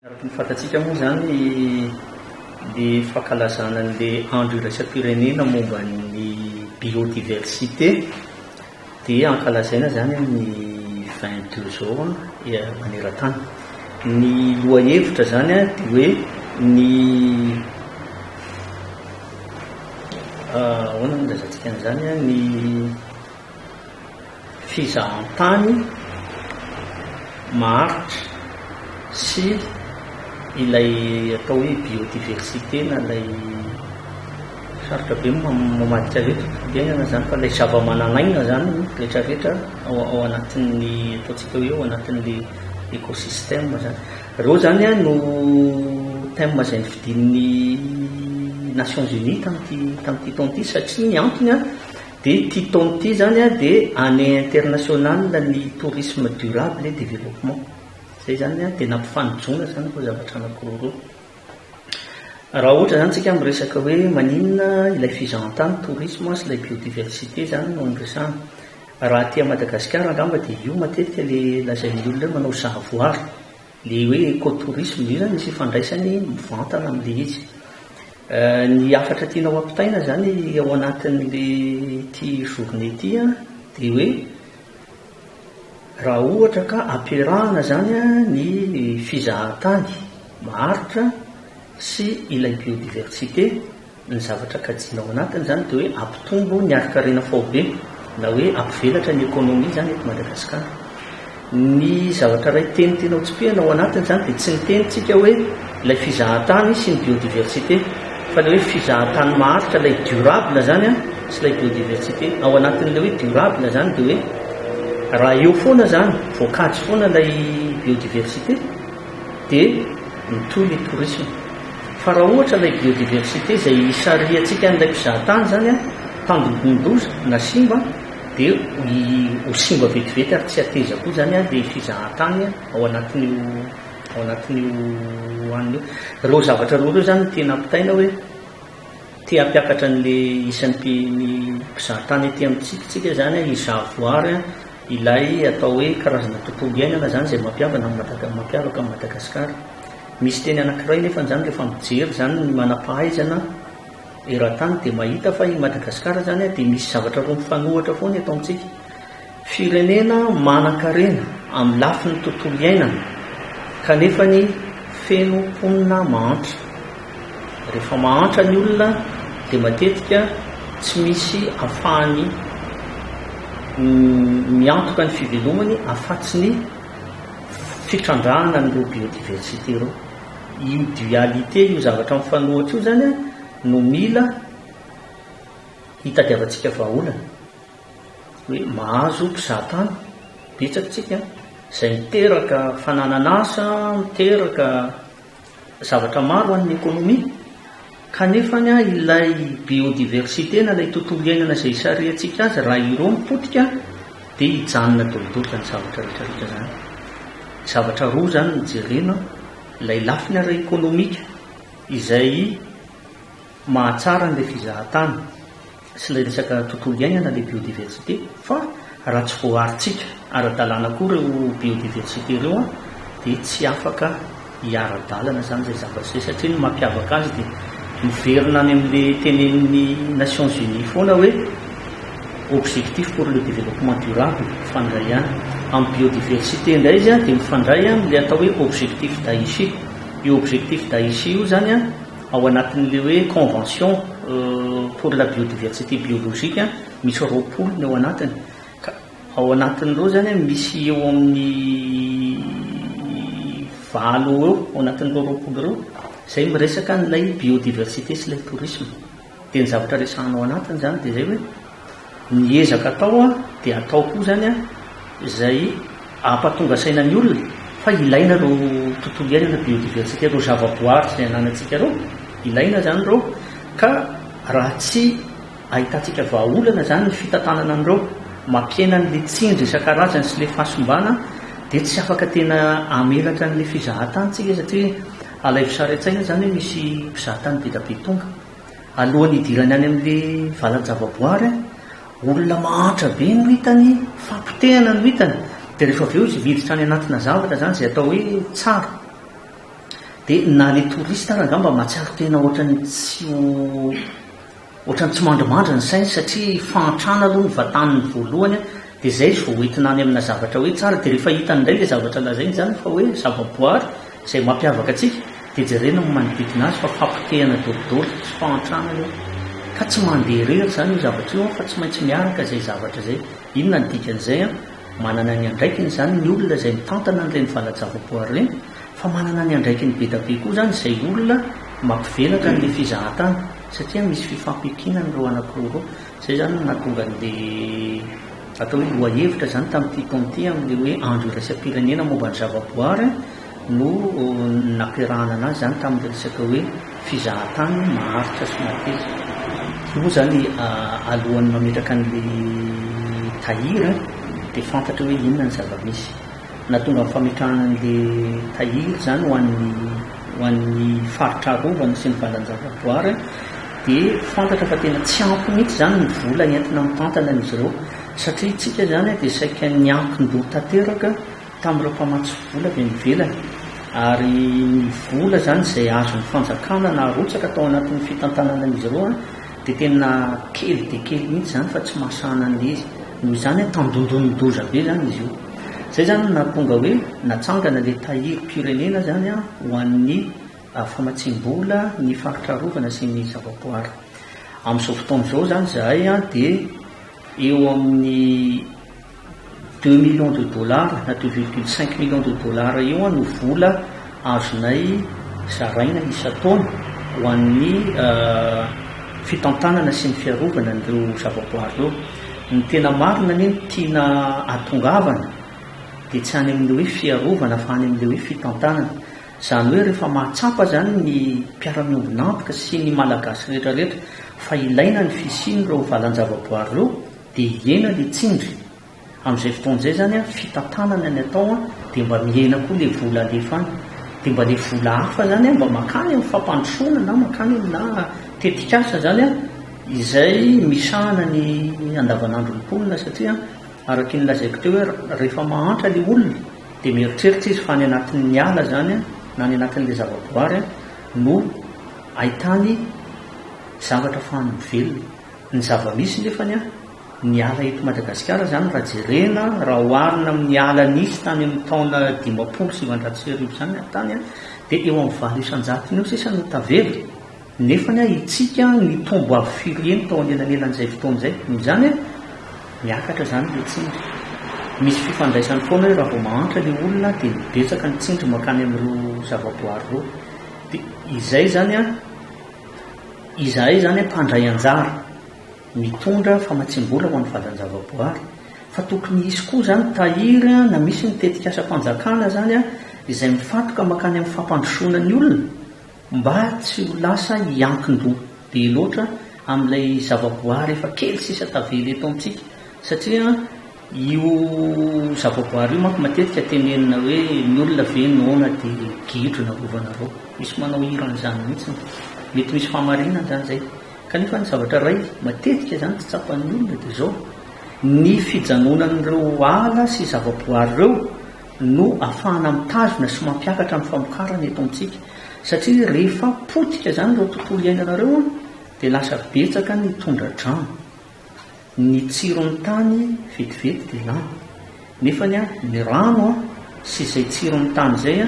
Araka ny fantatsika moa izany dia fankalazana an'ilay andro iraisam-pirenena momba ny biodiversité dia ankalazaina izany amin'ny vingt deux zao maneran-tany. Ny lohahevitra izany dia hoe ny ahoana no ilazantsika an'izany ny fizahantany maharitra sy ilay atao hoe biodiversite na ilay sarotra be mamadika avy eto firenena zany fa ilay zava-manan'aina zany rehetra rehetra ao anatin'ny ataontsika hoe ao anatin'le écosystème zany reo zany a no thème zay nofidin'ny Nations Unies tamty tamty taona ty satria ny antony a De ty taona ty zany a de année internationale ny tourisme durable et développement zay zany a de nampifanojoana zany reo zavatra anakiroa reo. Raha ohatra zany tsika miresaka hoe maninona ilay fizahantany tourisme sy ilay biodiversité zany no niresahana. Raha aty a Madagasikara angamba de io matetika le lazain'ny olona hoe manao sahavoary. Ilay hoe Eco-tourisme, io izany misy ifandraisany mivantana amin'ilay izy. Ny hafatra tiana ho ampitaina izany ao anatin'ilay ity journée ity an, dia hoe raha ohatra ka ampiarahana izany an ny fizahantany maharitra sy ilay biodiversité, Ny zavatra kajiana ao anatiny izany dia hoe hampitombo ny harin-karena faobe na hoe hampivelatra ny ekonomia izany eto Madagasikara. Ny zavatra iray teny tena hotsipihana ao anatiny izany dia tsy ny teny tsika hoe ilay fizahantany sy ny biodiversité fa ilay hoe fizahantany maharitra ilay durable izany sy ilay biodiversité. Ao anatin'ilay hoe durable izany dia hoe raha eo foana izany, voakajy foana ilay biodiversité, dia mitohy ny tourisme fa raha ohatra ilay biodiversité izay isarihantsika an'ilay mpizahatany izany tandindonin-doza na simba dia ho simba vetivety ary tsy hateza koa izany ilay fizahatany ao anatin'io ao anatin'io anona io. Ireo zavatra roa ireo izany no tena ampitaina hoe te hampiakatra an'ilay isan'ny mpizahatany aty amintsika isika izany hizaha voary Ilay atao hoe karazana tontolo iainana izany izay mampiavana an'i Madaga mampiavaka an'i Madagasikara. Misy teny anankiray nefa izany rehefa mijery izany ny manam-pahaizana eran-tany dia mahita fa i Madagasikara izany dia misy zavatra roa mifanohitra foana eto amintsika. Firenena manan-karena amin'ny lafiny tontolo iainana kanefany feno mponina mahantra. Rehefa mahantra ny olona dia matetika tsy misy afahany miantoka ny fivelomany afatsy ny fitrandrahana an'ireo biodiversité ireo. Io dualité io zavatra mifanohitra io izany no mila hitadiavantsika vahaolana. Hoe mahazo mpizahatany betsaka isika izay miteraka fananan'asa, miteraka. zavatra maro ho an'ny ekonomia, kanefa ilay biodiversite na ilay tontolo iainana izay isarihantsika azy raha ireo no potika dia hijanona daholo izany zavatra rehetrarehetra izany. Zavatra roa izany no jerena, ilay lafiny ara-ekonomika izay mahatsara an'ilay fizahan-tany. sy ilay resaka tontolo iainana ilay biodiversité fa raha tsy voaharintsika ara-dalàna koa ireo biodiversité ireo an dia tsy afaka hiara-dalana izany izay zavatra izay satria ny mampiavaka azy dia miverina any amin'ilay tenenin'ny Nations Unies foana hoe objectif pour le développement durable mifandray ihany amin'ny biodiversité indray izy an dia mifandray amin'ilay atao hoe objectif d'Aichi io objectif d'Aichi io izany an Ao anatin'ilay hoe convention pour la biodiversité biologique misy roapolo ny ao anatiny ka ao anatin'ireo izany misy eo amin'ny valo eo ao anatin'ireo roapolo ireo izay miresaka an'ilay biodiversité sy ilay tourisme dia ny zavatra resahana ao anatiny izany dia izay hoe Ny ezaka atao dia atao koa izany izay ampatonga saina ny olona fa ilaina ireo tontolo iainana, biodiversité, ireo zavaboary izay ananantsika ireo, ilaina izany ireo ka raha tsy ahitantsika vahaolana izany ny fitantanana an'ireo mampihena an'ilay tsindry isan-karazany sy ilay fahasimbana dia tsy afaka tena hamelatra an'ilay fizahan-tany tsika satria alaivo sary an-tsaina izany hoe misy mpizahatany be dia be tonga. Alohan'ny hidirany any amin'ilay valan-javaboary, olona mahantra be no hitany, fapotehana no hitany. Dia rehefa avy eo izy miditra any anatina zavatra izany izay atao hoe tsara. Dia na ilay touriste ary angamba mahatsiaro tena ohatran'ny tsy ho, ohatran'ny tsy mandrimandry ny sainy satria fahantrana aloha no vataniny voalohany, dia izay izy vao hoentina any amina zavatra hoe tsara. Dia rehefa hitany indray ilay zavatra lazainy izany fa hoe zavaboary, Izay mampiavaka antsika dia jerena ny manodidina azy fa fampotehana dolidoly sy fahantrana io ka tsy mandeha irery izany io zavatra io an fa tsy maintsy miaraka izay zavatra izay. Inona ny dikan'izay an? Manana ny andraikiny izany ny olona izay mitantana an'ireny valan-javaboary ireny fa manana ny andraikiny be da be koa izany izay olona mampivelatra an'ilay fizahantany satria misy fifampiankinana ireo anankiroa ireo. Izay izany no nahatonga an'ilay atao hoe lohahevitra izany tamin'ity taona ity amin'ilay hoe andro iraisam-pirenena momba ny zavaboary no nampiarahana anazy izany tamin'ilay resaka hoe fizahantany maharitra sy mateza. Io moa izany alohan'ny mametraka an'ilay tahiry dia fantatra hoe inona ny zava-misy. Nahatonga ny fametrahana an'i Le Tahiry izany ho an'ny ho an'ny faritra arovana sy ny valan-javaboary dia fantatra fa tena tsy ampy mihitsy izany ny vola entina mitantana an'izy ireo satria isika izany dia saika niankin-doha tanteraka tamin'ireo mpamatsy vola avy any ivelany ary ny vola izany izay azon'ny fanjakana naharotsaka tao anatin'ny fitantanana an'izy ireo Dia tena kely dia kely mihitsy izany fa tsy mahasahana an'ilay izy. Noho izany hoe tandondon'ny doza be izany izy io. Izay izany no nahatonga hoe natsangana ilay Tahirim-pirenena izany ho an'ny famatsiam-bola ny faritra arovana sy ny zavaboary. Amin'izao fotoana izao izany izahay dia eo amin'ny. Deux millions de dollars na deux virgule cinq millions de dollars eo no vola azonay zaraina isan-taona ho an'ny fitantanana sy ny fiarovana an'ireo zavaboary ireo. Ny tena marina anie no tiana atongavana dia tsy any amin'ilay hoe fiarovana fa any amin'ilay hoe fitantanana. Izany hoe rehefa mahatsapa izany ny mpiara-miombon'antoka sy ny Malagasy rehetrarehetra fa ilaina ny fisian'ireo valan-javaboary ireo, Dia hihena ilay tsindry. Amin'izay fotoana izay izany an, fitantanana ny atao an, dia mba mihena koa ilay vola alefa any. Dia mba ilay vola hafa izany an, mba mankany amin'ny fampandrosoana na mankany aminà tetikasa izany an, izay misahana ny andavanandron'ny mponina satria araka ny lazaiko teo hoe rehefa mahantra ilay olona dia mieritreritra izy fa any anatin'ny ala izany an, na any anatin'ilay zavaboary an, no ahitany zavatra ahafahany mivelona. Ny zava-misy nefany an, ny ala eto Madagasikara izany raha jerena, raha oharina amin'ny ala nisy tany amin'ny taona dimampolo sy sivinjato sy arivo izany an, tany an, dia eo amin'ny valo isan-jatony eo sisa no tavela, nefany an, hitsika an, nitombo avo firy heny tao anelanelan'izay fotoana izay. Noho izany an, miakatra izany ilay tsindry. Misy fifandraisany foana hoe raha vao mahantra ilay olona an, dia betsaka ny tsindry mankany amin'ireo zava-boahary ireo. Dia izay izany an. Izahay izany mpandray anjara, mitondra famatsiam-bola ho an'ny valan-javaboary, fa tokony hisy koa izany tahiry na misy ny tetikasam-panjakana izany izay mifantoka mankany amin'ny fampandrosoana ny olona mba tsy ho lasa hiankin-doha be loatra amin'ilay zavaboary efa kely sisa tavela eto amintsika satria Io zavaboary io manko matetika tenenina hoe ny olona ve noana dia gidro na rovanareo. Misy manao hira an'izany mihitsy. Mety misy fahamarinana izany izay. Kanefa ny zavatra iray matetika izany tsy tsapan'ny olona dia izao, ny fijanonan'ireo ala sy zavaboary ireo no afahana mitazona sy mampiakatra ny famokarana eto amintsika. Satria rehefa potika izany ireo tontolo iainana ireo dia lasa betsaka ny tondra-drano. Ny tsiron'ny tany vetivety dia lany. Nefa ny rano sy izay tsiron'ny tany izay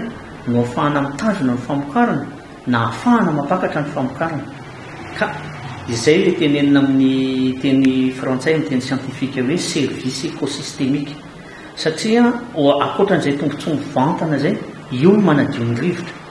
no ahafahana mitandrina ny famokarana na ahafahana mampakatra ny famokarana. Ka izay ilay tenenina amin'ny teny frantsay, amin'ny teny siantifika hoe service écosystémique. Satria ankoatran'izay tombontsoa mivantana izay, io no manadio ny rivotra.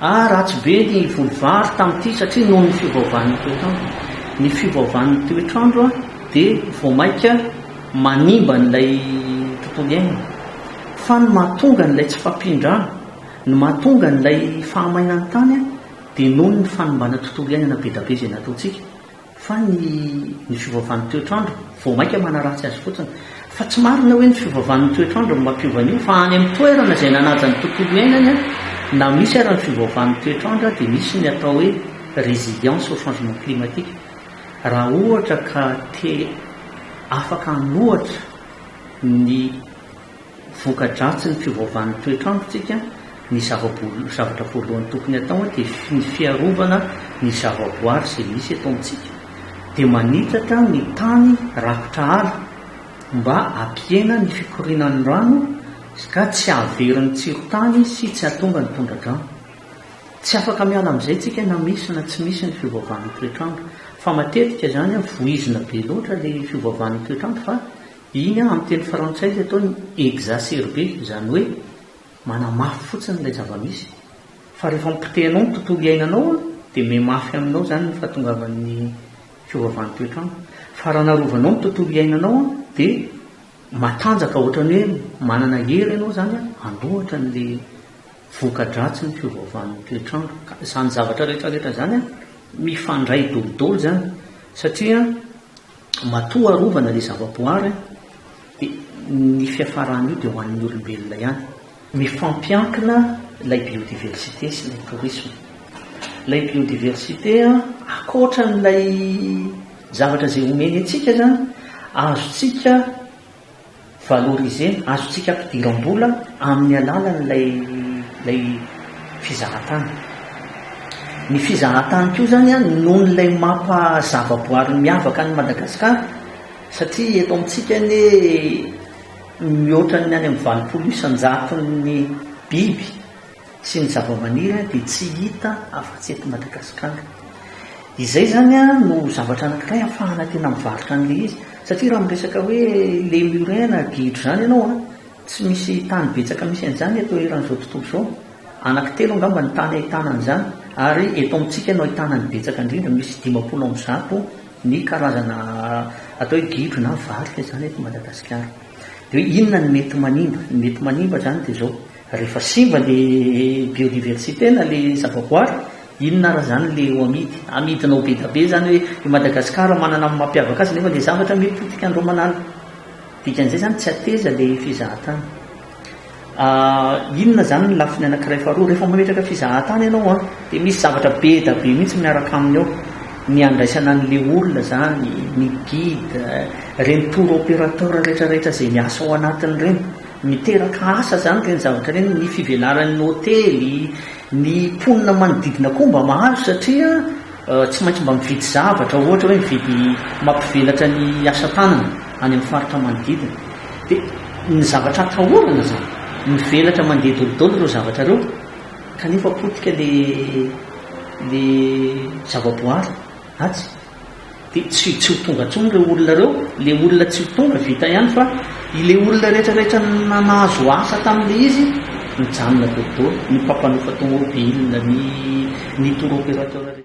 Ah ratsy be ny voly vary tamin'ity satria noho ny fiovaovan'ny toetr'andro. Ny fiovaovan'ny toetr'andro ah dia vao maika manimba an'ilay tontolo iainana. Fa ny mahatonga an'ilay tsy fampian-drano, ny mahatonga an'ilay fahamainan'ny tany ah dia noho ny fanimbana tontolo iainana be da be izay nataontsika. Fa ny ny fiovaovan'ny toetr'andro vao mainka manaratsy azy fotsiny. Fa tsy marina hoe ny fiovaovan'ny toetr'andro no mampiova an'io fa any amin'ny toerana izay nanaja ny tontolo iainany an, na misy ara ny fiovaovan'ny toetr'andro dia misy ny atao hoe résilience au changement climatique. Raha ohatra ka te afaka hanohatra ny. Voka-dratsin'ny fiovaovan'ny toetr'androntsika, ny zava-boalohany, zavatra voalohany tokony hatao dia ny fiarovana ny zava-boary izay misy eto amintsika. Dia manitatra ny tany rakotra ala mba hampihena ny fikorianan'ny rano ka tsy hahavery ny tsiron-tany sy tsy hahatonga ny tondra-drano. Tsy afaka miala amin'izay isika na misy na tsy misy ny fiovaovan'ny toetr'andro. Fa matetika izany voizina be loatra ilay fiovaovan'ny toetr'andro fa Iny an, amin'ny teny frantsay ilay atao ny exacerber, izany hoe manamafy fotsiny ilay zava-misy. Fa rehefa mipotehanao ny tontolo iainanao an, dia mimafy aminao izany ny fahatongavan'ny fiovaovan'ny toetr'andro. Fa raha narovanao ny tontolo iainanao an, dia matanjaka ohatran'ny hoe manana hery ianao izany an, handohatra an'ilay voka-dratsin'ny fiovaovan'ny toetr'andro. Ka izany zavatra rehetra rehetra izany an, mifandray dolo dolo izany, satria an, Matoa arovana ilay zavaboary dia ny fiafaran'io dia ho an'ny olombelona ihany. Mifampiankina ilay biodiversite sy ilay tourisme. Ilay biodiversite ankoatra an'ilay zavatra izay omeny antsika izany, azontsika Valorisena, azontsika ampidiram-bola amin'ny alalan'ilay fizahantany. Ny fizahantany koa izany noho ilay maha zavaboary miavaka an'i Madagasikara, satria eto amintsika anie mihoatra ny any amin'ny valopolo isan-jaton'ny biby, sy ny zavamaniry dia tsy hita afa-tsy eto Madagasikara. Izay izany no zavatra anankiray ahafahana tena mivarotra an'ilay izy. Satria raha miresaka hoe lemurin na gidro izany ianao, tsy misy tany betsaka misy an'izany eto eran'izao tontolo izao. Anankitelo angamba ny tany ahitana an'izany, ary eto amintsika no ahitana ny betsaka indrindra, misy dimampolo amby zato ny karazana atao hoe gidro na varika izany eto Madagasikara. Dia hoe inona no mety manimba? Ny mety manimba izany dia izao, Rehefa simba le biodiversité na le zavaboary, inona ara zany le ho amidy? Amidinao bedabe zany hoe i Madagascar manana ny mampiavaka azy nefa le zavatra mety ho tikan dreo manana. Dikan'izay zany tsy ateza le fizahatany. Ah inona zany ny lafiny anakiray faharoa? Rehefa mametraka fizahatany enao an, de misy zavatra bedabe mihitsy miaraka aminy ao, ny andraisana anle olona zany, ny guide, reny tour operateur retraretra zay miasa ao anatiny reny, Miteraka asa izany ireny zavatra ireny, ny fivelaran'ny hotely, ny mponina manodidina koa mba mahazo satria tsy maintsy mba mividy zavatra ohatra hoe mividy mampivelatra ny asa tanana any amin'ny faritra manodidina dia ny zavatra atahorana izany, mivelatra mandeha dolidoly ireo zavatra ireo kanefa potika ilay ilay zavaboary atsy. Dia tsy tsy ho tonga intsony ireo olona ireo, ilay olona tsy ho tonga vita ihany fa ilay olona rehetra rehetra nahazo asa tamin'ilay izy mijanona be dôla, ny mpampanofa tômôbila, ny ny tour opérateur rehetra.